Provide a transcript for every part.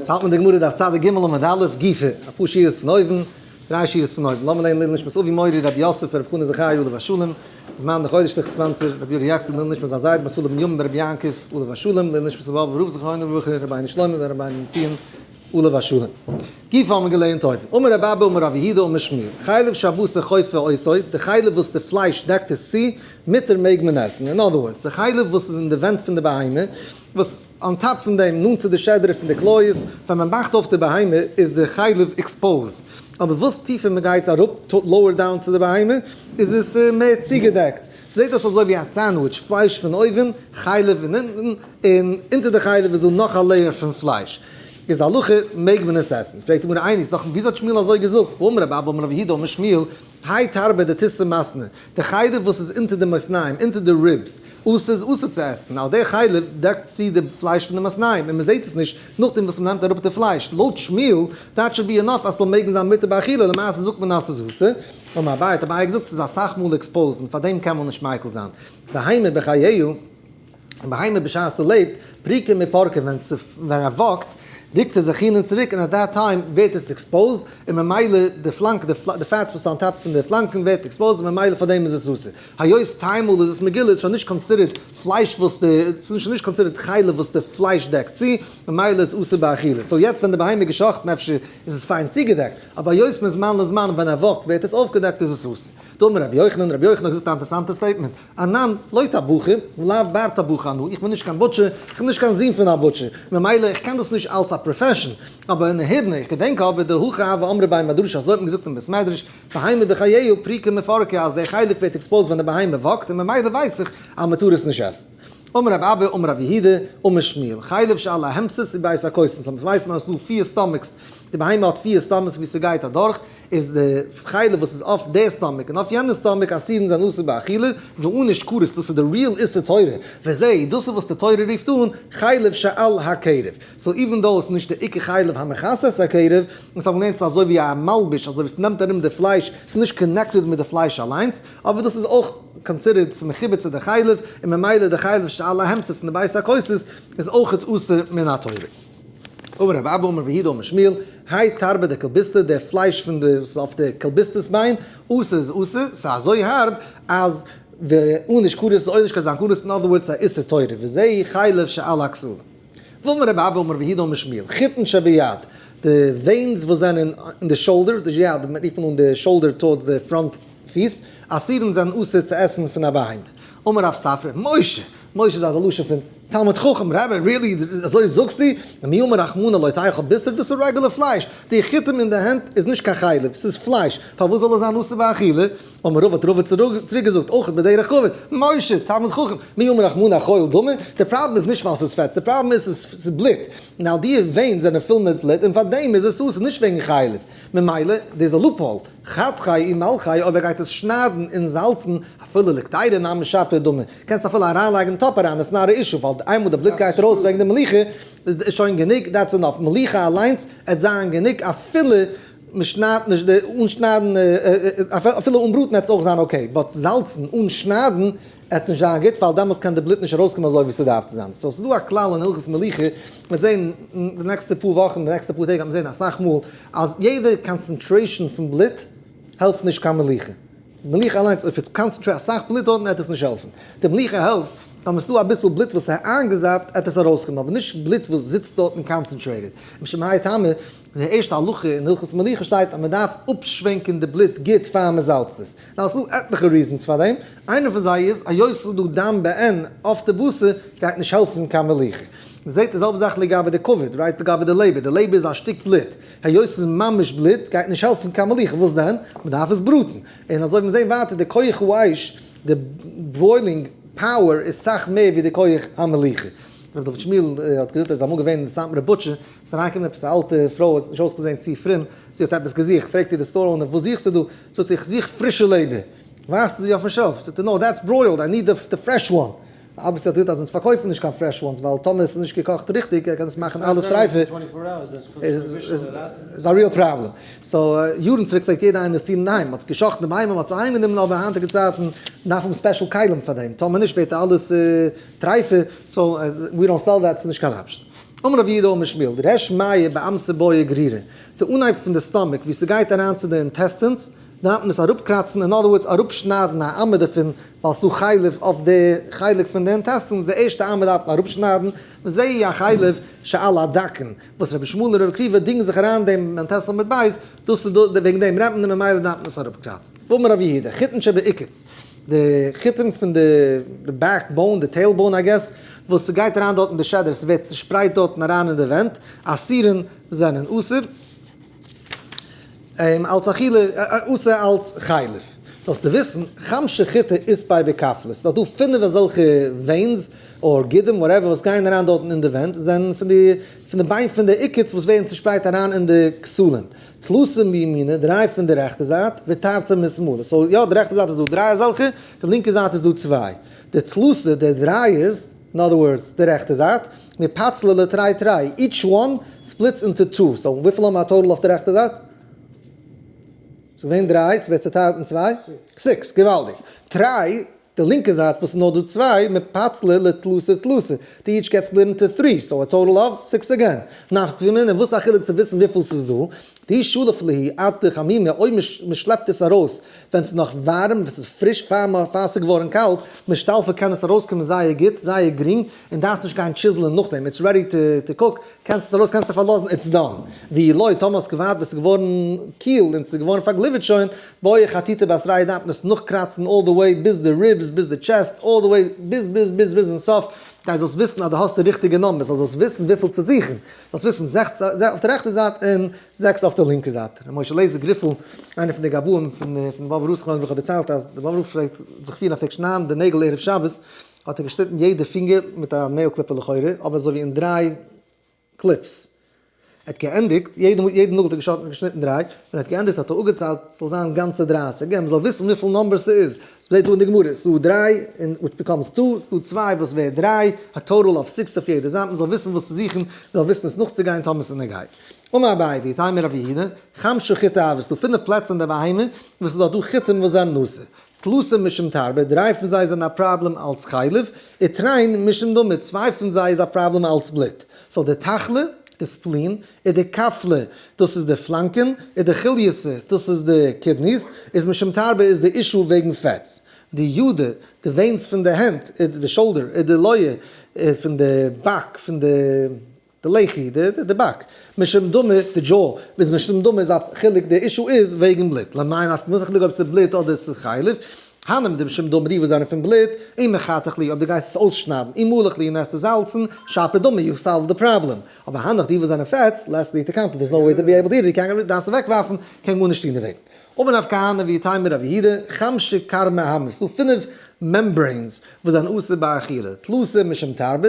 זאלט מען די גמרא דף צד ג עמוד א', גופא, אפאר שורות פון אויבן, דריי שורות פון אויבן, לאמיר לערנען לעילוי נשמת אבי מורי רבי יוסף רבי חנא זכרי' עליו השלום, דער מאן דחודש תרכ ס מאנצער, רבי אורי יאקצעג לעילוי נשמת זיין זיידע מפאלוב מימים ברבי יעקב עליו השלום, לעילוי נשמת אבא אבא רב זכרוינע לברכה, רבינו שלמה בן רבינו בן ציון, עליו השלום. גופא האבן מיר געלערנט אויבן, אמר רב אבא אמר רב יהודה אמר שמואל, חלב שהבשר חופר עושו, די חלב וואס די פלייש דעקט עס צו, מותר מעג מען עסן, אין אדער ווארדס, די חלב וואס איז אין די ווענט פון די בהמה, וואס אן טאפ פון דעם, נאנט צו די שדרה פון די כליות, ווען מען מאכט אויף די בהמה איז די חלב עקספאוזד, אבער וואס טיפער מען גייט אראפ, לאוער דאון, צו די בהמה, איז עס מער צוגעדעקט, זעהט אויס אזוי ווי א סענדוויטש, פלייש פון אויבן, חלב פון אונטן, און אונטער די חלב איז דא נאך א לעיער פון פלייש. איז הלכה מעג מען עס עסן? פרעגט די גמרא איין איז דאך וויאזוי האט שמואל אזוי געזאגט? אמר רב אבא אמר רב יהודה אמר שמואל האי תרבה דתיסר מסנא די חלב וואס איז אונטער די מאזניים אונטער די ריבס אסור איז אסור צו עסן ווייל די חלב דעקט צו די פלייש פון די מאזניים און מען זעהט עס נישט נאכדעם וואס מען נעמט אראפ די פלייש לויט שמואל דאט שאד בי אינאף אז ס'זאל מעגן זיין מותר באכילה למעשה זאגט מען אז ס'איז אסור. האבן א בייט, אבער איי געזאגט ס'איז אסאך מאל עקספאוזן, פאר דעם קען מען נישט מיקל זיין. בהמה בחייו, א בהמה בשעת ס'לעבט, פריקה מפורקה, ווען ווען ער וואקט רוקט ער זיך אהין און צוריק און עט דעט טיים ווערט עס עקספאוזד און ממילא די פלאנק די פלאט די פעט וואס איז אן טאפ פון די פלאנקען ווערט עקספאוזד און ממילא פאר דעם איז עס אסור. היות טיי מאל איז עס מגולה איז שוין נישט קאנסידערט פלייש וואס די ס'איז שוין נישט קאנסידערט חלב וואס די פלייש דעקט צו ממילא איז אסור באכילה. סאו יעצט ווען די בהמה איז געשאכטן אפשר איז עס פיין צוגעדעקט, אבער היות מזמן לזמן ווען ער וואקט ווערט עס אויפגעדעקט איז עס אסור. דאמר רבי יוחנן, רבי יוחנן האט געזאגט א אינטערעסאנטע סטעיטמענט, אנן, לא אתה בוכר, ולאו בארטא בוכר אנא, איך בין נישט קיין בוטשער, איך בין נישט קיין זון פון א בוטשער, ממילא איך קען דאס נישט אלץ א פראפעשאן, אבער אין נהידנא, איך געדענק אבער די הוה הוה אמרי ביי מדרש אזוי האט מען געזאגט אין בית מדרש, בהמה בחייהו פריקה מפרקה אז דער חלק ווערט עקספאוזט ווען די בהמה וואקט און ממילא ווייס איך אז מען טאר עס נישט עסן. אמר רב אבא אמר רב יהודה אמר שמואל חלב שאל א העמסס איז בייס א קוסן סאמס ווייסט מען אז עס איז דא פֿיר סטאמיקס די בהמה האט פֿיר סטאמעס ווי סגייט אדורך איז די חלב וואס איז אויף די סטאמיק און אויף יענע סטאמיק אסירן זיין אסור באכילה ואנוש כרת דאס איז די ריעל איסור תורה וזה דאס איז וואס די תורה רופט אן חלב שאל הכרב סאו איווען דאו עס איז נישט די עיקר חלב המכסה את הכרב און סאמס ווייסט מען עס איז אזוי ווי א מלבוש אזוי ווי עס נעמט ארום די פלייש עס איז נישט קאנעקטעד מיט די פלייש אליינס אבער דאס איז אויך קאנסידערט צו מחובר צו די חלב, און ממילא די חלב של א העמסס אין די בית הכוסות איז אויך אסור מן התורה. אמר רב אבא אמר רבי יהודה אמר שמואל, האי תרבה דקלביסתא, די פלייש פון די וואס איז אויף די קלביסת'ס ביין, אסור איז אסור, ס'איז אזוי הארב אז ואוניש כרת איז אוניש קיין זיין כרת, אין אדער ווארדס א איסור תורה, וזה חלב של א כסלו. וומר רב אבא אומר ויהי דא משמיל חיטן שביד, די וועינס וואס זענען אין די שאולדער, די יד מען רופט אן די שאולדער טארדס די פראנט פיס, אסירים זענען אסור צו עסן פון א בהמה. אמר רב ספרא משה, משה איז א לשון פון תלמיד חכם, רבי רילי אזוי זאגסטו? מי אמר רחמנא לא תאכל בשר דאס איז רעגולער פלייש, די חיטים אין די הענט איז נישט קיין חלב, ס'איז פלייש, פארוואס זאל עס זיין אסור באכילה? אמר רבא האט רבא צוריק געזאגט אויך בדרך כבוד, משה תלמיד חכם, מי יאמר לך מנה חול דמי, די פראבלעם איז נישט ווייל ס'איז פעטס, די פראבלעם איז ס'איז בלוט, און אויף די ווענס זענען פול מיט בלוט, און פאר דעם איז עס אסור, נישט וועגן חלב, ממילא דער איז א לופהאול, חתכי עם מלכי, אויב ער גייט עס שניידן און זאלצן, אפילו לקטירה נאר משפע דמי, קענסט אפילו אריינלייגן אין טאפ אריין, איטס נאט א אישו, ווייל איינמאל די בלוט גייט ארויס וועגן די מליחה, איז שוין גענוג, דעטס ענאף, מליחה אליינס עט זיין גענוג אפילו מען שניידט נישט די, אן שניידן, אפילו אן בראטן העט עס אויך זיין אקעי, באט זאלצן אן שניידן העט נישט זיין גוט ווייל דעמאלס קען די בלוט נישט ארויסקומען אזוי ווי ס'דארף צו זיין, סאו ס'דא א כלל אין הלכות מלוכה, מען וועט זען די נעקסטע פאר וואכן, די נעקסטע פאר טעג וועט מען זען אסאך מאל אז יעדע קאנצענטרעישן פון בלוט העלפט נישט קיין מלוכה, מלוכה אליינס אויב איז קאנצענטרעיט אסאך בלוט דארטן העט עס נישט העלפן, די מלוכה העלפט אז ס'דא אביסל בלוט וואס איז איינגעזאפט העט עס ארויסקומען, אבער נישט בלוט וואס זיצט דארטן קאנצענטרעיטעד, משום מאי טעמא אין די ערשטע הלכה אין הלכות מלוכה שטייט אז מען דארף אפשווענקען די בלוט גוט פאר מען זאלצט עס. נאר עס איז דא עטליכע ריזענס פאר דעם, איינע פון זיי איז היות עס איז דא דם בעין אויף די בשר גייט נישט העלפן קיין מלוכה. מען זעט די זעלבע זאך לגבי די כבד, רייט לגבי די לעבער, די לעבער איז א שטיק בלוט, היות עס איז ממש בלוט גייט נישט העלפן קיין מלוכה, וואס דען? מען דארף עס בראטן. און אזוי וועט מען זען ווייטער די כח האש, די בוילינג פאוער איז סאך מער ווי די כח המלוכה. ר' דוד שמואל האט געזאגט ער איז אמאל געווען אין סאטמארע בוטשער, ס'איז אריינגעקומען עפעס א אלטע פרוי, האט נישט אויסגעזען צו פרום, זי האט עפעס געזוכט, פרעגט איר די סטאר אונער וואס זוכסטו דא? זאגט זי איך זוך פרישע לעבער, ווייזט זי אויפן שעלף, זאגט ער נאו דעטס ברוילד, איי ניד די פרעש וואן, אבוויסלי האט געזאגט אז אונז פארקויפן נישט קיין פרעש וואנס, ווייל טאמער עס איז נישט געקאכט ריכטיג קען עס מאכן אלעס טרייפער, איז א ריעל פראבלעם, סאו יארן צוריק פלעגט יעדער אינוועסטירן אין היים, מ'האט גע'שחט'ן די בהמה, מ'האט זיי איינגענומען, אבער היינטיגע צייטן דארף מען ספעשל כלים פאר דעם, טאמער נישט ווערט אלעס טרייפער, סאו ווי דאנט סעל דעט, ס'איז נישט קיין אפשן. אמר רבי יהודה אמר שמואל, דער הערשט מיה באמת'ע בויע גרירא, די אנהייב פון די סטאמאק וואו ס'גייט אריין צו די אינטעסטינס, דארף מען עס אראפקראצן, אין אדער ווארדס אראפשניידן א אמה דערפון, ווייל ס'איז דא חלב אויף די חלק פון די אינטעסטינס, די ערשטע אמה דארף מען אראפשניידן, וזיהי החלב שעל הדקן, וואס רבי שמואל און רבי עקיבא דינגן זיך אריין דעם אינטעסטין מיט בייס, דאס איז וועגן דעם רעדט מען און ממילא דארף מען עס אראפקראצן. ואמר רבי יהודה, חיתן שבעיקוץ. די חיתים פון די די בעק באון, די טעיל באון איי געס, וואס ס'גייט אריין דארט אין די שעדער, ס'ווערט צושפרייט דארטן אריין אין די ווענט, אסירין זענען אסור אים אלץ אכילה, אסור אלץ חלב. זאלסטו וויסן, חמשה חיטה איז פאר בעקאפלעס, ס'דא דא פינף אזעלכע וועינס, אור גידים, וואטעווער, וואס גייען אריין דארטן אין די ווענט, זענען פון די פון די ביין פון די עיקוץ וואס ווערן צושפרייט אריין אין די כסלים. טלסים מימינה, דריי פון די רעכטע זייט, ותרתי משמאלה, סאו יא די רעכטע זייט איז דא דריי אזעלכע, די לינקע זייט איז דא צוויי, די טלסים, די דרייערס, אין אדער ווארדס די רעכטע זייט, מפצלה לתרי תרי, איטש וואן ספליטס אינטו טו, סאו וויפיל האמער א טאטעל אויף די רעכטע זייט? ס'איז געווען דריי, ס'ווערט צוטיילט אין צוויי? סיקס, געוואלדיג, טריי. די לינקע זייט וואס איז נאר דא צוויי מפצלה לתלסר תלסר, די איטש געט ספליט אינטו טרי, סאו א טאטעל אוו סיקס אגעין. נאכט וומען און וואס א חילוק צו וויסן וויפיל ס'איז דא. די שלף ליהי עד די חמימה אויב מ'שלעפט עס ארויס ווען ס'איז נאך ווארעם ווען ס'איז פריש פאר ס'איז געווארען קאלט משתלפה קען עס ארויסקומען זייער גוט זייער גרינג און דארפסט נישט גיין טשיזלען נאכדעם איטס רעדי טו קוק קענסט עס ארויס קענסט זיך פארלאזן איטס דאן. ואילוי טאמער האסט געווארט ביז ס'איז געווארען קיל און ס'איז געווארען פארגליווערט שוין בויך חטיטה בת רייד דארף מען עס נאכקראצן אלל די וועי ביז די ריבס ביז די טשעסט אלל די וועי ביז ביז ביז ביז אין סוף דיין זאלסט וויסן אז די האסט די ריכטיגע נאמבערס זאל זאלסט וויסן וויפיל צו זוכן זאלסט וויסן זעכץ אויף די רעכטע זייט און זעקס אויף די לינקע זייט ר' משה לייזער גריפל איינער פון די גבאים פון פון באבוב רב סקולען ווי כ'האב דערציילט אז די באבוב רב פלעגט זיך פירן אפי' שניידן די נעגל ערב שבת האט ער געשניטן יעדע פינגער מיט א נעיל קליפער לכאורה אבער אזוי ווי אין דריי קליפס. ער האט געענדיגט, יעדע יעדע נאגל האט ער געשארפן און געשניטן דריי, ווען ער האט געענדיגט האט ער אפגעציילט ס'זאל זיין גאנצע דרייסיג, געבן מ'זאל וויסן וויפיל נומבערס ס'איז, ס'שטייט דא אין די גמרא, ס'איז דא דריי, און וויטש ביקאמס טו, ס'איז דא צוויי וואס ווערט דריי, א טאטאל אוו סיקס אויף יעדע זייט, מ'זאל וויסן וואס צו זוכן, מ'זאל וויסן עס נאכצוגיין טאמער ס'איז נוגד. אמר אביי ווי טעמא רב יהודה, חמשה חיטה אוו, ס'איז דא פינף פלעצער אין די בהמה וואס ס'איז דארט דא חיטים וואס זענען אסור, טלוסים משום תרבה, דריי פון זיי זענען א פראבלעם אלס חלב, איתריין משום דמה, צוויי פון זיי איז א פראבלעם אלס בלוט. סאו די תחלה, די ספלין, און די קפלה, דאס איז די פלאנקען, און די כליוסה, דאס איז די קידניס, איז משום תרבה איז די אישו וועגן פעטס. די ידע, די וועינס פון די הענט, די שאלדער, און די לויה, פון די בעק, פון די. די לחי ד, די באק, משום דמי, די דזשאו, ביז משום דמי איז א חילוק, די אישו איז וועגן בלוט, למאי נפק מ, ס'איז א חילוק אויב ס'איז בלוט אדער ס'איז חלב, הן אם די משום דמי די וואס זענען פון בלוט, אם מחתך לי אויב די גייסט עס אויסשניידן, אם מלך לי און עסט עס זאלצן, שפע דמי יו סאלווד די פראבלעם, אבער הנך די וואס זענען פעטס, לעסט לי טו קאנטענט, דער'ס נאו וועי טו בי עיבל טו איט איט, קען דארפסט עס אוועקווארפן, קען גארנישט טון דערוועגן. אבער נפקא הנה ווי טעם מיר רב יהודה, חמשי כרמי המ, ס'איז דא פינף מעמברעינס וואס זענען אסור ביי אכילה, תלוסה משום תרבה,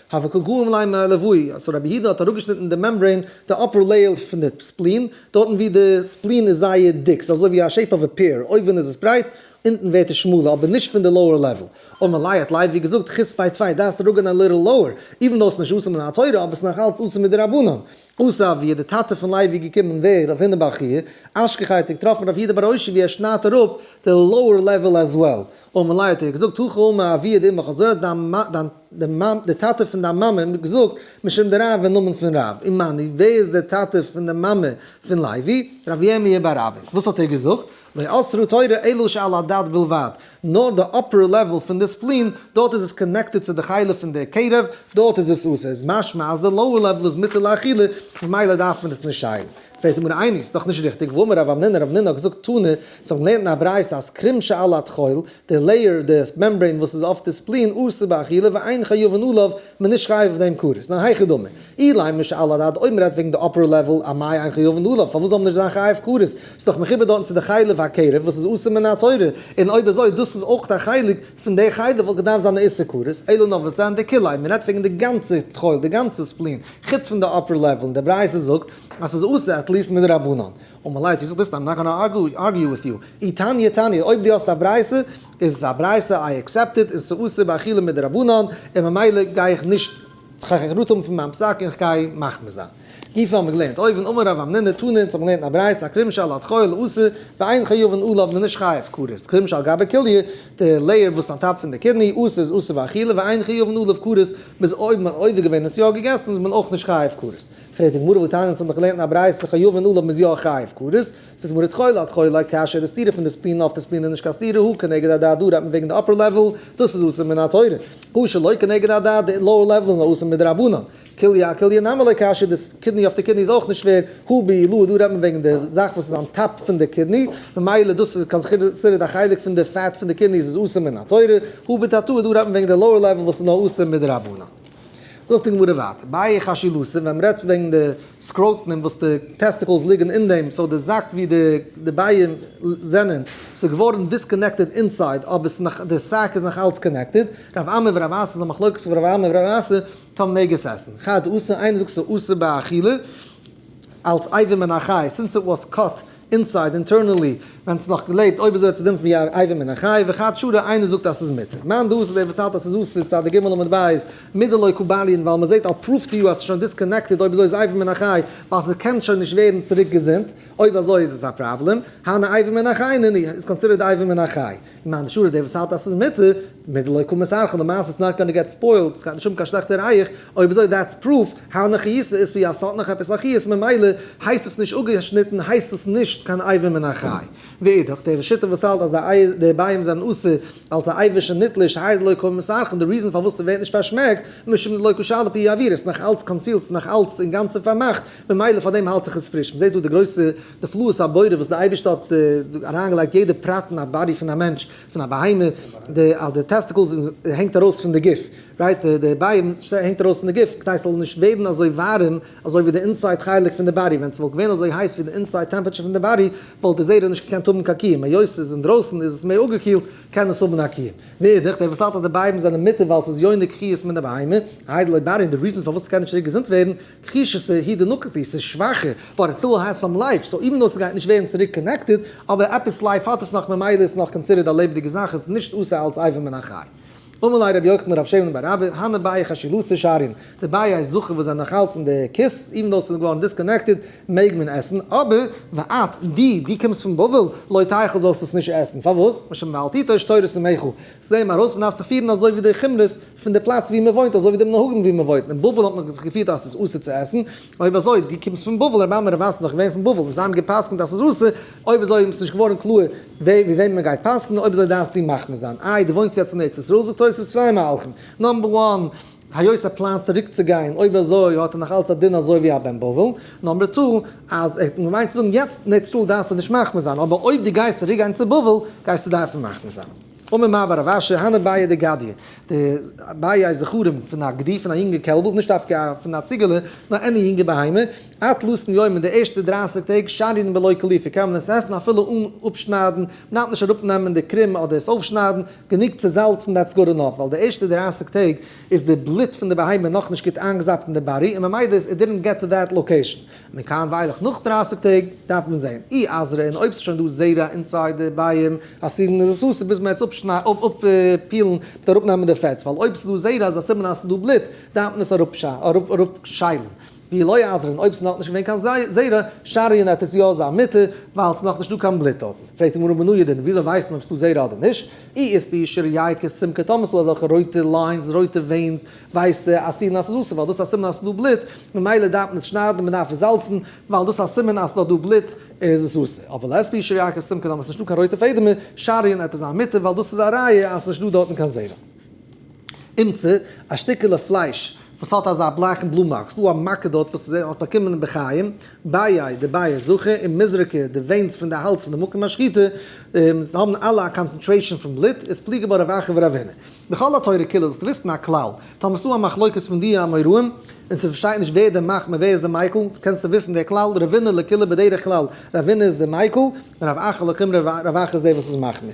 האבקע גורם ליים לעווי, אז רבי יהודה האט אראפגעשניטן די מעמברעין, די אפער לעיער פון די ספלין, דארטן ווי די ספלין איז זייער דיק, ס'איז אזוי ווי א שעיפ אוו א פעיר, אויבן איז עס ברייט, אונטן ווערט עס שמאלער, אבער נישט פון די לאוער לעוועל. און מען לייערט לייוו ווי געזאגט, חוץ פיי טפיי דארפסטו ראגען א ליטעל לאוער, איווען דאס איז נישט אסור מן התורה, אבער ס'איז נאך אלץ אסור מדרבנן, אויסער ווי איז די טאטע פון לייבי געקומען ווער רב הונא באר חייא? אשכח האט ער געטראפן רב יהודה באר אשי ווי ער שניידט אראפ די לאוער לעוועל עז וועל. און מלאי האט ער געזאגט הכא אמר אביה דאמך אזוי האט דיין די טאטע פון דיין מאמע געזאגט משום די רב אין נאמען פון רב. ומאני ווער איז די טאטע פון די מאמע פון לייבי? רב ירמי' באר אבא. וואס האט ער געזאגט? לא אסרו תורה אלא שעל הדת בלבד, נאר די אפער לעוועל פון די ספלין, דארט איז עס קאנעקטעד צו די חלה פון די קערב, דארט איז עס אסור, איז משמע אז די לאוער לעוועל איז מותר לאכילה, ממילא דארף מען עס נישט שיילן. פרעגט די גמרא איי נישט, ס'דאך נישט ריכטיג, ואמר רב אמנינא, רב אמנינא האט געזאגט תנא, זיי האבן געלערנט אין א ברייתא אז קרום שעל הטחול, די לעיער, די מעמברעין וואס איז אויף די ספלין, אסור באכילה ואין חיובן עליו, מען נישט חייב אויף דעם קורס, ניין היכי דמי, אילאי משאל הדעת אויב מען רעדט וועגן די אפער לעוועל א מאי אין חיוב און דא לאו, פארוואס זאל מען נישט זיין חייב קורס, ס'איז דאך מחובר דארטן צו די חלב הקרב וואס איז אסור מן התורה, און אויב אזוי דאס איז אויך א חלק פון די חלב וואלט געדארפט זיין די איסור קורס, אלא נאוואסדען די כולאי, מען רעדט וועגן די גאנצע טחול די גאנצע ספלין חוץ פון די אפער לעוועל און די ברייתא זאגט אז ס'איז אסור עטליסט מדרבנן. און מלייט יז ליסט איים נאט גאנא ארגיו וויט יו. אי תניא תניא אויב דו האסט א ברייתא. עס איז א ברייתא איי אקסעפט איט און ס'איז אסור באכילה מדרבנן און ממילא גיי איך נישט כ'גיי רוט האבן פון מיין פסק און כ'גיי מחמיר זיין. גופא האבן מיר געלערנט אויבן אמר רב אמנינא תנא אונז האבן געלערנט אין א ברייתא א כרם שאל האט חול איז אסור ואין חיובן עליו מ'איז נישט חייב כרת כרם שאל גבי כליה די לעיער וואס אן טאפ פון די קידני אויס איז אסור באכילה ואין חיובן עליו כרת מ'איז אויב מ'האט עובר געווען און עס יא געגעסן איז מען אויך נישט חייב כרת פרעגט די גמרא ותענית האבן מיר געלערנט אין א ברייתא חיובן עליו מ'איז יא חייב כרת ס'איז מוריד חולה אט חולה, כאשר די סתירה פון די ספינא אויף די ספינא איז נישט קיין סתירה, הוא כנגד הדעת דא רעדט מען וועגן די אפער לעוועל, דאס איז אסור מן התורה, הוא שלא כנגד הדעת די לאוער לעוועל איז נאר אסור מדרבנן, כליה כליה נמי ליה כאשר די קידני אויף די קידני איז אויך נישט שווער, הוא בעילאה דא רעדט מען וועגן די זאך וואס איז אן טאפ פון די קידני, ממילא דאס איז קיין סכרת א חלק פון די פעט פון די קידניס איז אסור מן התורה, הוא בתתאה דא רעדט מען וועגן די לאוער לעוועל וואס איז נאר אסור מדרבנן. זאגט די גמרא ווייטער, באי חשי לסין, ווען מ'רעדט וועגן די סקראטנעם וואס די טעסטיקלס ליגן אין דעם, סאו די זאק ווי די די בייען זענען, ס'איז געווארן דיסקאנעקטעד אינסייד אבער ס'איז נאך די סאק איז נאך אלץ קאנעקטעד, רב עמי ורב אסי איז א מחלוקת פון רב עמי ורב אסי טאמער מעג עס עסן, חד אסור, איינער זאגט ס'איז אסור באכילה אלץ אייבים מן החי, סינס איט וואס קאט אינסייד, אינטערנעלי, ווען ס'נאך געלעבט, אויב איז ער צו דן פון ווי א עבר מן החי, וכת שרה, איינער זאגט אז ס'איז מותר. מאן דהוא ס'איז דער וואס האלט אז ס'איז אסור, צד ג' עמוד ב', מיד דלא קבלין, ווייל מ'זעט איל פרוף טו יו אז ס'איז שוין דיסקאנעקטעד, אויב אזוי איז עבר מן החי, ווייל ס'קען שוין נישט ווערן צוריק געזונט, אויב אזוי איז עס א פראבלעם, הנה עבר מן החי, נ י, איז קאנסידערט עבר מן החי. למען השורה דער וואס האלט אז ס'איז מותר, מילא לא יקום את ערכו, די מעשה איז נאט גאנא געט ספוילד, ס'גייט נישט האבן קיין שלעכטע רייעך, אויב אזוי דעטס פרוף, הענא חייסא איז פי א ס'האט נאך עפעס א חיות ממילא הייסט עס נישט אפגעשניטן הייסט עס נישט קיין אייבים מן החי. ואידך, דער שיטה וואס האלט אז די ביים זענען אסור אלס א אייבישע נוטליש הייד לא יקום את ערכו, די ריזען פארוואס ס'ווערט נישט פארשמעקט, משום דלא כשל פי העביר, ס'נאך אלץ קאנסיעלד ס'נאך אלץ אינגאנצן פארמאכט, ממילא פאר דעם האלט זיך עס פריש, מ'זעט דא די גרויסע. נפלאות הבורא וואס די אייבערשטער האט דא אריינגעלייגט יעדע פרט אין א באדי פון א מענטש, פון א בהמה, די אז די טעסטיקלס הענגט ארויס פון די גוף, רייט, די ביים הענגט ארויס פון די גוף כדי ס'זאל נישט ווערן אזוי ווארעם אזוי ווי די אינסייד חלק פון די באדי, ווען ס'וואלט געווען אזוי הייס ווי די אינסייד טעמפעטשער פון די באדי וואלט די זרע נישט געקענט האבן קיין קיום, היות ס'איז אינדרויסן איז עס מער אפגעקילט קען עס האבן א קיום. מאידך, דער וואס האלט אז די בייבן זענען מיתה ווייל ס'איז יונק חיות מן הבהמה, איידל אויב באדי, און די ריזען פארוואס ס'קען נישט צוריק געזונט ווערן, כיש איז ס'איז הי ד נקבתי, ס'איז שוואכער, באט איט סטיל העז סאם לייף, סאו איווען דאו ס'גייט נישט ווערן צוריק קאנעקטעד, אבער עפעס לייף האט עס נאך ממילא איז נאך קאנסידערד א לעבעדיגע זאך און ס'איז נישט אסור אלץ אייוועלט מן החי. אמאל עי' ר' יוחנן רב שמן בן רבי הנ ל ביה ח שילוסי שערין, די ביה ח זכר וואס זענען נאך אלץ אין די כיס, איווען דאו ס'איז געווארן דיסקאנעקטעד, מעג מען עסן, אבער ואת ד, דו קומסט פון בבל, לא תאכל זאלסט עס נישט עסן, פארוואס? משום ואל תיטוש תורת אמך. זעהן מיר ארויס מ'דארף זיך פירן אזוי ווי די חומרות פון די פלאץ ווי מ'וואוינט אזוי ווי די מנהגים ווי מ'וואוינט, אין בבל האט מען זיך געפירט אז ס'איז אסור צו עסן, אויב אזוי דו קומסט פון בבל, רבי עמרם רבי מאסן איז דאך געווען פון בבל, און זיי האבן גע'פסק'נט אז ס'איז אסור, אויב אזוי איז נישט געווארן קלאר ווי ווי וועמען מ'גייט פסק'נען, אויב אזוי דארפסטו מחמיר זיין, איי דו וואוינסט יעצט אין ארץ ישראל, זאגט תוספות צוויי מהלכים, נאמבער וואן. היות ער פלאנט צוריק צו גיין, אויב אזוי האט ער נאך אלץ א דין אזוי ווי א בן בבל, נאמבער טו, אז ער האט געמיינט צו זאגן יעצט נעט סטאל דארפסטו נישט מחמיר זיין, אבער אויב דו גייסט צוריק גיין צו בבל גייסטו דארפן מחמיר זיין. אמר מר בר רב אשי, הנה ביה ד גדיא, די ביה איז זכרים פון א גדי פון א יונגע קעלבל, נישט דווקא פון א ציגעלע, נאר עני יונגע בהמה, אט לסן יום אין די ערשטע דרייסיג טעג שרין בלא קליפה קען מען עס עסן אפילו אן אפשניידן, מ'דארף נישט אראפנעמען די קרום אדער עס אויפשניידן, גענוג צו זאלצן דעטס גוד ענאף, ווייל די ערשטע דרײַסיק טעג איז די בלוט פון די בהמה נאכנישט גוט איינגעזאפט אין די באדי און ממילא איט דידענט געט טו דעט לאקעישן, מכאן ואילך נאך דרײַסיק טעג דארף מען זען אי אזרע און אויב ס'איז שוין דא זרע אינסייד די ביים האסירן איז עס אסור ביז מען וועט עס אפפילן מיט אראפנעמען די פעטס ווייל אויב ס'איז דא זרע איז א סימן אז ס'איז דא בלוט דארף מען עס אראפשיילן. ווי לא יעזרון אויב ס'איז נאכנישט געווען קיין זרע, שריון אויף עס יא זיין מותר, ווייל ס'איז נאכנישט דא קיין בלוט דארט. פרעגט די גמרא מנא ידען, וויאזוי ווייסט מען אויב ס'איז דא זרע אדער נישט? אי איז פי' שרייא כסמקא, טאמער ס'איז דא אזעלכע רויטע ליינס, רויטע וועינס, ווייסטו אז סימן אז ס'איז אסור, ווייל דאס איז א סימן אז ס'איז דא בלוט, ממילא דארף מען עס שניידן, מען דארף עס זאלצן, ווייל דאס איז א סימן אז ס'איז נאך דא בלוט, איז עס אסור. אבער לעת פי' שרייא כסמקא טאמער ס'איז נישט דא קיין רויטע פעדער מער, שריון אויף עס זיין מותר, ווייל דאס איז א ראיה אז ס'איז נישט דא דארטן קיין זרע. אמצער, א שטיקעלע פלייש וואס האט אזא בלאקן בלו מארק, ס'דא א מארקע דארט וואס ער האט באקומען בחיים, בייי די בייער זכר און מזרקה, די וועינס פון די האלז פון די מקום השחיטה האבן אלע א קאנצענטרעישאן פון בלוט, איז פליגי בה רב אחר ורב הנה. בכל התורה כולה זאלסטו וויסן א כלל, טאמער ס'דא א מחלוקת פון די אמוראים און ס'פארשטייט נישט ווער דער מחמיר ווער איז דער מיקל, קענסטו וויסן דער כלל, רב הנה לקולא בדרך כלל, רב הנה איז דער מיקל, און רב אחר לחומרא, רב אחר איז דער וואס איז מחמיר.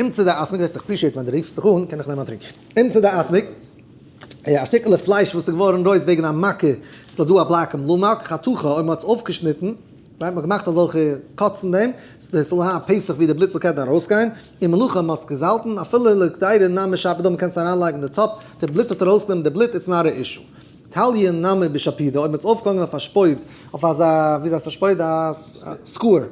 אמצע די אסמק וועסט עפרישיעט ווען די רופסט זיך אן קען איך נעמען א טרינק אמצע די אסמק א שטיקעלע פלייש וואס איז געווארן רויט וועגן א מכה ס'איז דא א בלאק און בלומאק חתוכה אויב מ'האט עס אויפגעשניטן מ'האט געמאכט אזעלכע קאטס אין דעם ס'זאל זיין א פסח ווי די בלוט זאל קענען ארויסגיין און מלאכה מ'האט עס געזאלטן אפילו לכדאי נמי שפידא מ'קען עס אריינלייגן אין די טאפ די בלוט האט ארויסגענומען די בלוט איטס נאט א אישו תליה נמי בשפידא אויב מ'האט עס אויפגעהאנגען אויף א שפויד אויף אזא וויאזוי הייסט א שפויד א סקוער.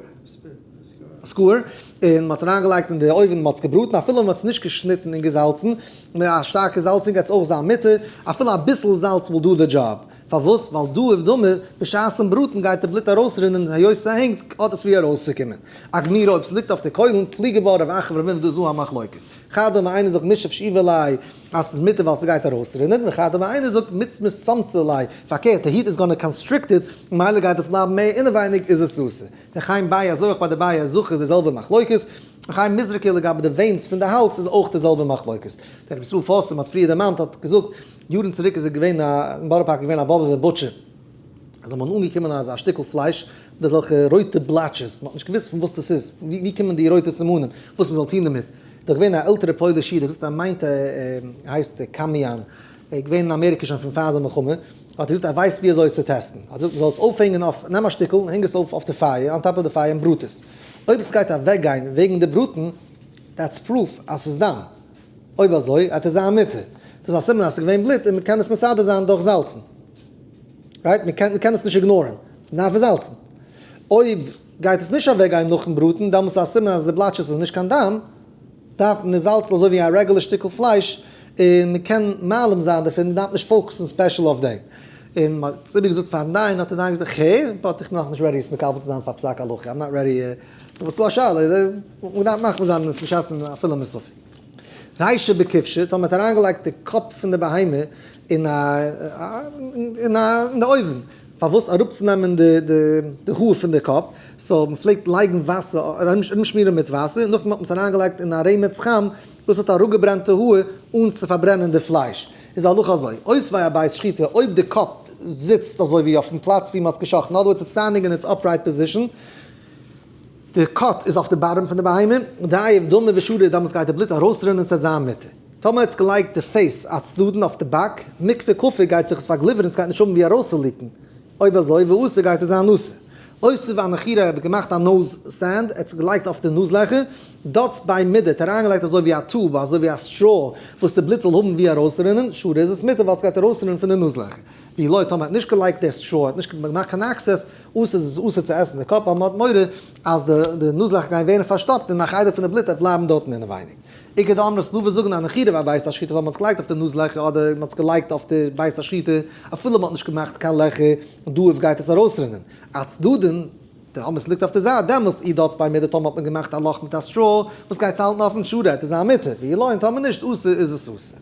סקוער, און מען האט עס אריינגעלייגט אין די אויווען, מען האט עס געבראטן, אפילו מען האט עס נישט געשניטן און געזאלצן, מיט א שטארקע זאלצונג גייט עס אויך זיין מותר, אפילו אביסל זאלץ וויל דא די דזשאב, פארוואס? ווייל דא איף דמי, בשעת'ן בראטן גייט די בלוט ארויסרינען, היות ס'הענגט, האט עס ווי ארויסצוקומען. א גמירא אויב ס'ליגט אויף די קוילן, פלי געבאר רב אחא ורבינא דא איז אן א מחלוקת. חדא מאי איינער זאגט משב שאיבה ליה אז ס'איז מותר ווייל ס'גייט ארויסרינען, וחדא מאי איינער זאגט מיץ מצמצה ליה, פארקערט, די היט איז גאנע קאנסטריקטעד, ממילא גייט עס בלייבן מער אינעווייניג, איז עס אסור. ר' חיים ביי אזוי אויך ביי די בייער זכר איז די זעלבע מחלוקת, ר' חיים מזרקי לגבי די ווענס פון די האלץ איז אויך די זעלבע מחלוקת, דער רבי ישראל פארסט ווי מען האט פריער דערמאנט האט געזאגט יארן צוריק איז ער געווען א אין בארא פארק איז געווען א באבעווער בוטשער איז אים אנגעקומען אזא שטיקל פלייש מיט אזעלכע רויטע בלאטשעס מען האט נישט געוואוסט פון וואס דאס איז פון ווי קומען די רויטע סימנים וואס מען זאל טון דערמיט, דאך געווען א עלטערע פויליש איד ער האט געזאגט ער מיינט ער הייסט קאמיאן ער איז געווען אין אמעריקע שוין פון פאר די מלחמה, האט ער געזאגט ער ווייסט ווי אזוי עס צו טעסטן, ער האט געזאגט מען זאל עס אויפהענגען אויף, נעם א שטיקל און הענג עס אויף אויף די פייער, אן טאפ אויף די פייער און בראט עס, אויב עס גייט אוועק גיין וועגן די בראטן, דעטס פרוף אז עס איז דם, אויב אזוי וועט עס זיין מותר, דאס איז א סימן אז עס איז געווען בלוט און מען קען עס מסדר זיין דורך זאלצן, רייט? מען קען מען קען עס נישט איגנארען, מען דארף עס זאלצן, אויב גייט עס נישט אוועק גיין נאכן בראטן, דעמאלטס איז א סימן אז די בלאטשעס איז נישט קיין דם, דארף מען זאלצן אזוי ווי א רעגולער שטיקל פלייש, און מען קען מעלים זיין דערפון, מען דארף נישט פאוקוסן ספעשל אויף דעם. און מען האט עס איבער געזאגט פארן דיין, האט דער דיין געזאגט, ח ו בין איך נאכנישט רעדי עס מקבל צו זיין פאר פסק הלכה, איים נאט רעדי, סאו וואס איז דא א שאלה, מען דארף מחמיר זיין און עס נישט עסן אפילו מיט ספק. ריישא בכבשא, טאמער מען האט אריינגעלייגט די קאפ פון די בהמה אין א אין די אויוון. פארוואס אראפצונעמען די האר פון די קאפ, סאו מען פלעגט לייגן וואסער ארומשמירן מיט וואסער און נאכדעם האט מען עס אריינגעלייגט אין א רעמעץ חם דאס האט אראפגעברענט די האר אן צו פארברענען די פלייש איז די הלכה אזוי אויס ביי א בית שחיטה אויב די קאפ זיצט אזוי ווי אויפן פלאץ ווי מען האט עס געשאכטן אדער איטס סטענדינג אין איטס אפרייט פאזישן די קאט איז אויף די באטעם פון די בהמה דאיעף דמו ושריר דאמאלס גייט די בלוט ארויסרינען ס'העט זיין מותר. טאמער עטס געלייגט די פעיס א צדדן אויף די באק, מקווה קאפי גייט זיך עס פארגליווערן עטס גייט נישט האבן ווי ארויסצוליקן, אויב אזוי וואסע גייט עס זיין נאסע? אויסער ווען איך איר האב געמאכט א נאז סטענד עטס געלייגט אויף די נאז לעכער דאטס ביי מידעט אריינגעלייגט אזוי ווי א טוב אזוי ווי א סטרא וואס די בלוט זאל האבן ווי ארויסרינען שאד איז עס מיטער ווייל עס גייט ארויסרינען פון די נאז לעכער ווי לויט האט מען האט נישט געלייגט די סטרא האט נישט געמאכט קיין אקסעס אויסער עס איז אסור צו עסן די קאפ ווייל מען האט מורא אז די נאז לעכער גייען ווערן פארשטאפט און א חדר פון די בלוט וועט בלייבן דארטן אינעווייניג עיקר די אמרי סלובער זאגן אז אין חירוב א בית השחיטה ווייל מען האט זיך געלייגט אויף די נאז לעכער אדער מען האט זיך געלייגט אויף די בית השחיטה אפילו מען האט נישט געמאכט קיין לעכער און דאאיף גייט עס ארויסרינען א צדדין די אמרי סליגט אויף די זייט דעמאלסט איר דארטס ביי מיר די טאמער האט מען געמאכט א לאך מיט א סטראו וואס גייטס האלטן אויפן שורה עט איז א מותר ווי איר לוינט טאמער נישט אסור איז עס אסור.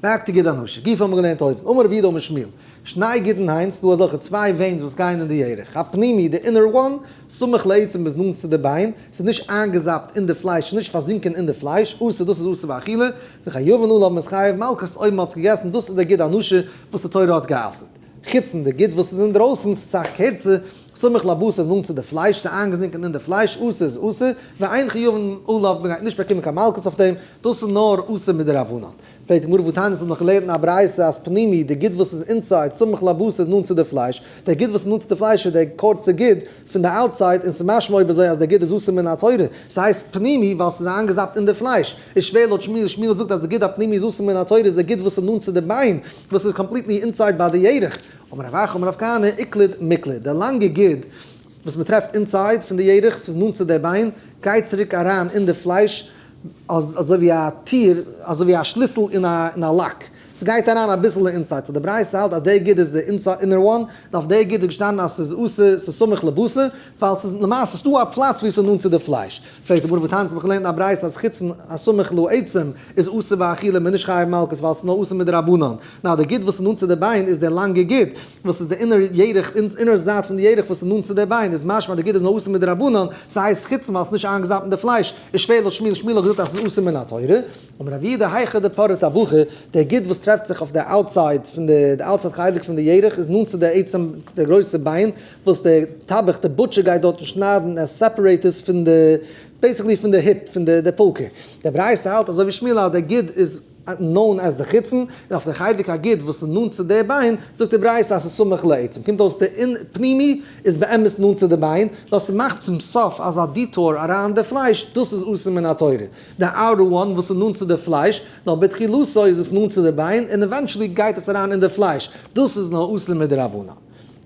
מעט תגיד אנושה, גוף האבן מיר געלערנט אויבן, אמר רבי יהודה אמר שמואל, שניי גיטין היינט ס'דא אזעלכע צוויי וועינס וואס גייען אין די ירך, הפנימי, די אינער וואן, סמוך לעצם ביז נאנט צו די ביין, ס'איז נישט איינגעזאפט אין די פלייש, ס'איז נישט פארזינקען אין די פלייש, אסור, דאס איז אסור באכילה, וכיוון אל האבן עס חייב מלקות אויב מ'האט עס געגעסן, דאס איז די גיד אנושה וואס די תורה האט גע'אסר'ט. חוצן די גיד וואס איז אינדרויסן, ס'איז סאך קערצער, סמוך לבשר איז נאנט צו די פלייש, ס'איז איינגעזינקען אין די פלייש, אסור איז אסור, ואין חיוב אין עליו, מ'גייט נישט באקומען קיין מלקות אויף דעם, דאס איז נאר אסור מדרבנן. פרעגט די גמרא וואו תענית האט נאך געלערנט אין א ברייתא אז פנימי, די גיד וואס איז אינסייד, סמוך לבשר איז נאנט צו די פלייש, דער גיד וואס איז נאנט צו די פלייש איז דער קורצע גיד פון די אוטסייד, און ס'איז משמע אויב אזוי אז דער גיד איז אסור מן התורה, ס'הייסט פנימי ווייל ס'איז איינגעזאפט אין די פלייש, איז שווער לויט שמואל, שמואל זאגט אז די גיד הפנימי איז אסור מן התורה איז דער גיד וואס איז נאנט צו די ביין, וואס איז קאמפליטלי אינסייד ביי די ירך. אמר רב אחא אמר רב כהנא איקלד מיקלד, די לאנגע גיד וואס מען טרעפט אינסייד פון די ירך, ס'איז נאנט צו די ביין, גייט צוריק אריין אין די פלייש אזוי ווי א טיר, אזוי ווי א שליסל אין א לאק, ס'גייט אריין אביסל אינסייד, סאו די ברייתא האלט אז די גיד איז די אינער וואן, און אויף די גיד איז געשטאנען אז ס'איז אסור, ס'איז סמוך לבשר, ווייל ס'איז למעשה ס'איז דא א פלאץ וואו ס'איז נאנט צו די פלייש. פרעגט הגמרא וואו טאנצן, מ'האט געלערנט אין א ברייתא אז חוצן הסמוך לו עצם איז אסור באכילה מ'איז נישט חייב מלקות ווייל ס'איז נאר אסור מדרבנן, נאר די גיט וואס איז נאנט צו די ביין איז די לאנגע גיט וואס איז די אינער ירך אינער זייט פון די ירך וואס איז נאנט צו די ביין איז משמע אז די גיט איז נאר אסור מדרבנן ס'הייסט חוצן ווייל ס'איז נישט איינגעזאפט אין די פלייש איז שווער לו שמיל שמיל האט געזאגט אז ס'איז אסור מן התורה אמר רב יהודה היכא דפרט הבחור די גיט וואס טרעפט זיך אויף די אוטסייד פון די די אוטסייד חלק פון די ירך איז נאנט צו די עצם די גרויסע ביין וואס די טבח די בוטשער גייט דארטן שניידן ער סעפערעיט עס פון די בעסיקלי פון די היט פון די די פולקער די ברייתא האלט אזוי ווי שמילה אז די גיד איז נאון עז די חיצון און אויף די חיידק א גיד וואס איז נאנט צו די ביין זאגט די ברייתא אז ס'איז סמוך לעצם קומט אויס די אין פנימי איז באמת נאנט צו די ביין נאר ס'מאכט צום סוף אזא דיטאור אריין די פלייש דאס איז אסור מן התורה די אאוטער וואן וואס איז נאנט צו די פלייש נאר בתחילתו איז עס נאנט צו די ביין און עווענטשעלי גייט עס אריין אין די פלייש דאס איז נאר אסור מדרבנן.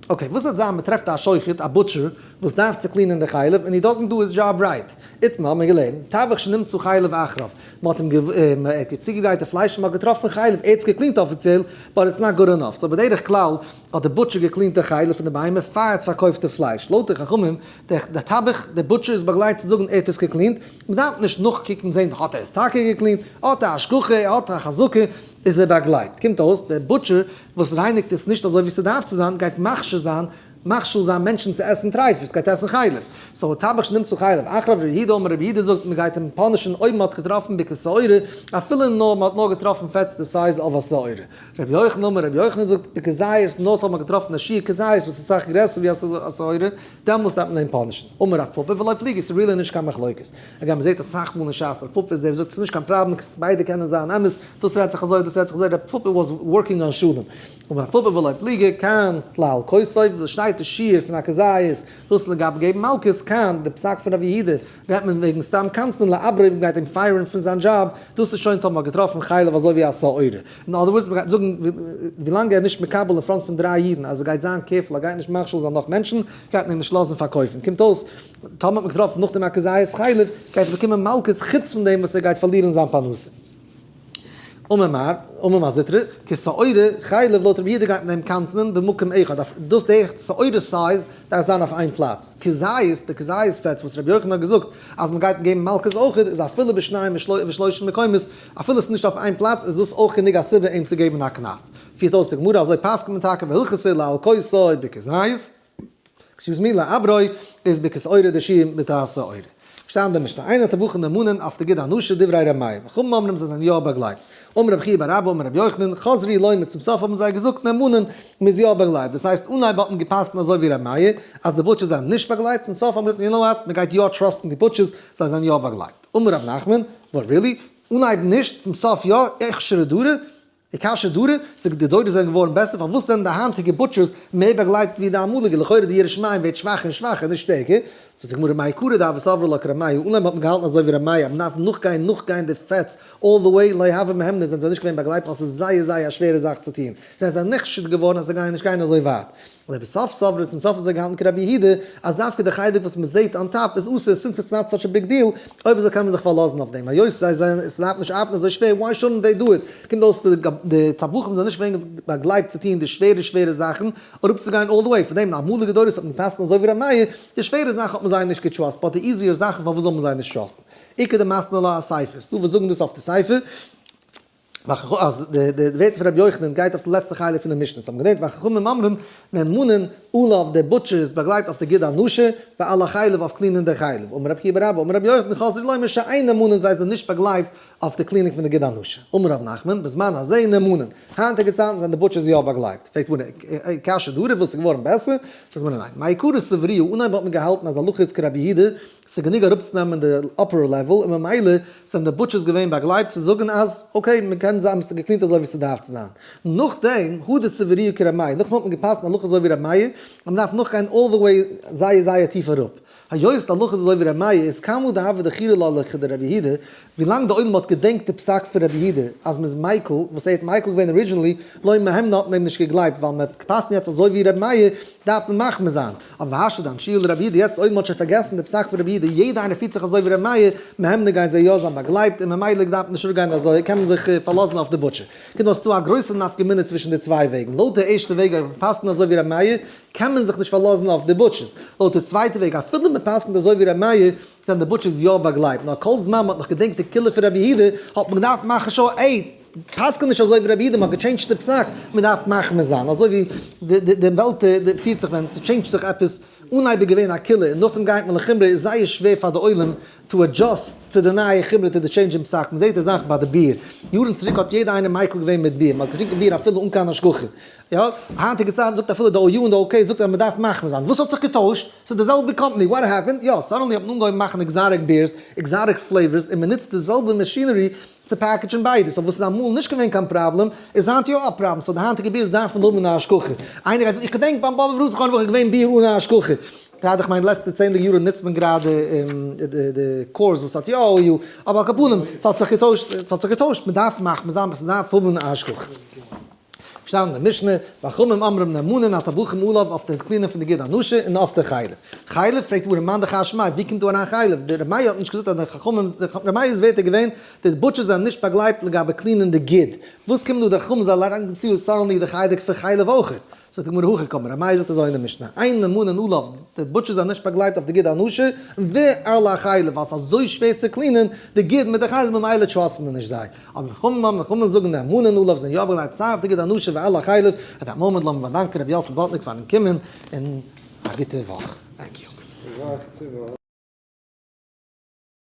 אקעי, וואס וועט זיין מ'טרעפט א שוחט, א בוטשער, וואס דארף צו קלינען די חלב, און הי דאזענט דא היז דזשאב רייט? איתמר האט מיר געלערנט, טבח שנמצא חלב אחריו, מ'האט אים געוו. ער האט צוגעגרייט די פלייש און מ'האט געטראפן חלב, ער האט עס געקלינט אפיציעל, באט איטס נאט גוד ענאף, סאו בדרך כלל האט די בוטשער געקלינט די חלב פון די בהמה פאר ער האט פארקויפט די פלייש, לויט די חכמים, די טבח, די בוטשער איז באגלייבט צו זאגן ער האט עס געקלינט, מ'דארף נישט נאכקוקן זען האט ער עס טאקע געקלינט, האט א השגחה, האט א חזקה, איז ער באגלייבט, קומט אויס די בוטשער וואס רייניגט עס נישט אזוי ווי ס'דארף צו זיין, גייט מכשיל זיין, מכשיל זיין מענטשן צו עסן טרייפות, גייט עסן חלב, סאו א טבח שנמס צו חלב, אחר אויף ר' יהודה אמר ר' יהודה זאגט מען גייט אים פאנישן אויב מען האט געטראפן בקע שעורה, אפילו נאר מען האט נאר געטראפן פעטס די סייז אוו א שעורה, ר' יוחנן אמר ר' יוחנן זאגט בקע זית נאר טאמער געטראפן א שיעור קע זית וואס איז סאך גרעסער ווי א שעורה, דעמאלס דארף מען אים פאנישן, אמר רב פפא ולא פליגי ס'איז ריעלי נישט קיין מחלוקת, הגם מ'זעט אסאך מאל אין ש ס רב פפא איז דער וואס זאגט ס'איז נישט קיין פראבלעם, ביידע קענען זיין אמת, דאס רעדט זיך אזוי, דאס רעדט זיך אזוי, רב פפא וואס ווארקינג אן שלום, און רב פפא ולא פליגי, קיין כלל כסף, וואס שטייט אין שיעור פון הכזית איז דאס לגבי געבן מלקות, קיין די פסק פון רב יהודה רעדט מען וועגן סתם קנצנען לאברי וואס מ'גייט אים פייערן פון זיין דזשאב, דאס איז שוין טאמער מ'האט געטראפן חלב אזוי ווי א סאורע, אין אדער ווארדס מ'גייט זאגן ווילאנג ער איז נישט מקבל אין פראנט פון דריי אידן אז ער גייט זיין קערפול ער גייט נישט מכשיל זיין נאך מענטשן גייט מען אים נישט לאזן פארקויפן, קומט אויס טאמער האט מען געטראפן נאך דעם א כזית חלב, גייט ער באקומען מלקות חוץ פון דעם וואס ער גייט פארלירן זיין פרנסה. אמר מר. אמר מר זיטרא, כשעורה חלב לויט רבי יהודה גייט מען אים קנצנען במקום אחד, אויף דאס די שעורה סייז דארף זיין אויף איין פלאץ, כזית די כזית פעטס וואס רבי יוחנן האט געזאגט אז מען גייט געבן מלקות אויך איז אפילו בשניים ושלושה מקומות אפילו עס איז נישט אויף איין פלאץ איז דאס אויך גענוג א סיבה אים צו געבן א קנס, פירט אויס די גמרא אזוי פסק'נט מען טאקע והלכות איז לאלקי סוי בכזית. עקסיוז מי, לא אברוי, איז בכסאורא דשי מיתה סאורא. שטייט אין די משנה, איינער האט א בוחן נאמאנען אויף תגיד אנושה דברי ר' מאיר, וחכמים אומרים זיי זענען יא באגלייבט, אמר רבי חייא בר אבא אמר רבי יוחנן, חזרי לוי מיט צום סוף האבן זיי געזאגט נאמאנען, מ'איז יא באגלייבט, דאס הייסט אנהייב האט מען געפסקנט אזוי ווי ר' מאיר, אז די בוטשערס זענען נישט באגלייבט, צום סוף האט מען געזאגט יו נאו וואט, מ'גייט יא טראסטן די בוטשערס, זיי זענען יא באגלייבט. אמר ר' נחמן, וואט רילי? אנהייב נישט, צום סוף יא, איכשרא דרא? די קשיא דארע, ס'ג, די דורות זענען געווארן בעסער, פארוואס זענען די היינטיגע בוטשערס מער באגלייבט ווי די אמאליגע, לכאורה די ירא שמים ווערט שוואכער און שוואכער, נישט שטערקער. זאגט די גמרא מאי קרא דאב סברא לא כרמאי, אן להם האט מען געהאלטן אזוי ווי רמאי אז מען דארף נאכגיין נאכגיין די פעטס אלל די וועי, לא הווי מהמנין זענען זיי נישט געווען באגלייבט ווייל ס'איז זייער זייער א שווערע זאך צו טון, זענען זיי נחשד געווארן אז זיי גייען נישט גיין אזוי ווייט. לבסוף סברא צום סוף האט זיך געהאלטן כרבי יהודה אז דווקא די חלק וואס מען זעהט אן טאפ איז אסור סינס איטס נאט סאטש א ביג דיעל אויב אזוי קען מען זיך פארלאזן אויף דעם היות זיי זענען עס דארף נישט ארבעטן אזוי שווער וואי שודנט דעי דא איט קומט אויס די תבליחים זענען נישט ווערן באגלייבט צו טוהן די שווערע שווערע זאכן אראפ צו גיין אלל די וועי פון דעם די אמאליגע דורות האט מען געפסקנט אזוי ווי ר' מאיר די שווערע זאכן האט מען זיי נישט געטראסט באט די איזיער זאכן פארוואס זאל מען זיי נישט טראסטן עיקר די מסנ ל אסייפעס דא וואס זאגן דאס אויף די ספר. והחכמים, אז די ווערטער פון רבי יוחנן גייט אויף די לעצטע חלק פון די משנה, צום געדענק והחכמים אומרים, מען מאנען אלל אויף די בוטשערס באגלייט אויף די גיד הנשה, ואל החלב אויף קלינען די חלב, אמר רבי חייא בר אבא, אמר רבי יוחנן חזר לומר שאינם מאנען זיי זענען נישט באגלייבט אויף די קלינינג פון די גיד הנשה, אמר ר' נחמן, בזמן הזה אינם מאנען, היינטיגע צייטן זענען די בוטשערס יא באגלייבט, פרעגט די גמרא, קשיא דהרי וואס איז געווארן בעסער? זאגט די גמרא ניין, מעיקרא סבריהו, אנהייב האט מען געהאלטן אז די הלכה איז כרבי יהודה, ס'איז גענוג אראפצונעמען די אפערער לעוועל און ממילא זענען די בוטשערס געווען באגלייבט צו זאגן אז אקעי מ'קען זיי האבן עס געקלינט אזוי ווי ס'דארף צו זיין. נאכדעם הא די סבריא כר' מאיר נאכדעם האט מען געפאסט הלכה אזוי ווי ר' מאיר און מ'דארף נאכגיין אלל די וועי זייער זייער טיף אראפ. היות די הלכה איז אזוי ווי ר' מאיר איז קאם וואס די הווא דחירא להלכה דר' רבי יהודה ווילאנג די עולם האט געדענקט די פסק פון רבי יהודה אז מ'איז מיקל וואס ער האט מיקל געווען ארידזשינעלי לא מהימנא האט מען אים נישט געגלייבט ווייל מ'פאסט יעצט אזוי ווי ר' מאיר דארף מען מחמיר זיין אבער האשה דיין שיעור לרבי יהודה יעצט אויב מען האט שוין פארגעסן די פסק פון רבי יהודה יעדע איינער פירט זיך אזוי ווי רבי מאיר מהר ן גייען זיי יא זיין באגלייבט און ממילא געדארפט נישט אפגיין אזוי קען מען זיך פארלאזן אויף די בוטשער קינד און ס'דא א גרויסע נפקא מינה צווישן די צוויי וועגן לויט די ערשטע וועג אויב מען פסק'נט אזוי ווי רבי מאיר קען מען זיך נישט פארלאזן אויף די בוטשערס לויט די צווייטע וועג אפילו מען פסק'נט אזוי ווי רבי מאיר זענען די בוטשערס יא באגלייבט נאר כל זמן מען האט נאך געדענקט די קולא פון רבי יהודה האט מען געדארפט מאכן שו ע. פסק'נט נישט אזוי ווי רבי אידם האט געטשעינדזשט די פסק, מען דארף מחמיר זיין, אזוי ווי די די וועלט פירט זיך ווען ס'טשעינדזשט זיך עפעס, אנהייב איז געווען א קולע און נאכדעם גייט מען לחומרא, איז זייער שווער פאר די עולם טו אדזשאסט צו די נייע חומרא טו די טשעינדזש אין פסק, מען זעט די זאך ביי די ביר, יארן צוריק האט יעדער איינער מיקל געווען מיט ביר, מען האט געטרינקן ביר אפילו אן קיין השגחה, יא, היינטיגע צייטן זאגט אפילו די או יו און די או קעי זאגט אז מען דארף מחמיר זיין, וואס האט זיך געטוישט? ס'איז די זעלבע קאמפאני, וואט העפענד? יא, סאדענלי האט מען אנגעהויבן מאכן עקזאטיק בירס, עקזאטיק פלעיווארס און מען נוצט די זעלבע מאשינערי צו פעקעדזשן ביידע, סאו וואס איז אמאל נישט געווען קיין פראבלעם איז היינט יא א פראבלעם, סאו די היינטיגע בירס דארפן האבן אן השגחה, איינער גייט זאגן איך געדענק ביים באבע רחל האט נאך געווען ביר אן א השגחה, גראדע כ'מיין די לעצטע צענדליגע יארן נוצט מען גראדע די קארס וואס האט יא אויל, אבער על כל פנים ס'האט זיך געטוישט, ס'האט זיך געטוישט, מ'דארף מחמיר זיין, ס'דארף האבן אן השגחה. שטייט אין די משנה, וחכמים אמרים נאמנים אל תבוכם עליו אויף די קלינער פון די גיד הנשה און אויף די חלב. חלב? פרעגט הגמרא מאן דכר שמיה ווי קומט דא אריין חלב? די רמיה האט נישט געזאגט אז די חכמים, די רמיה איז ווערטער געווען, די בוטשערס זענען נישט באגלייבט לגבי קלינען די גיד. וואס קומט דא די חכמים זאלן אריין גיין צו סארענלי די חלק פון חלב אויכעט? זאגט הגמרא הכי קמא, רמיה זאגט אזוי אין די משנה, אין נאמנים עליו, די בוטשערס זענען נישט באגלייבט אויף די גיד הנשה, ועל החלב ווייל ס'אזוי שווער צו קלינען די גיד מיט די חלב ממילא טראסט מען נישט זיי. אבער ווי חמ מ חמ מ זאגן די המון הנ ל וואס זענען יא אויף געלייגט צייט דיגע דאנאשען ווי אלע חלב אט דעם מאמענט לאמיר באדאנקען רבי יאסל באטניק פארן קומען און א גוטע וואך.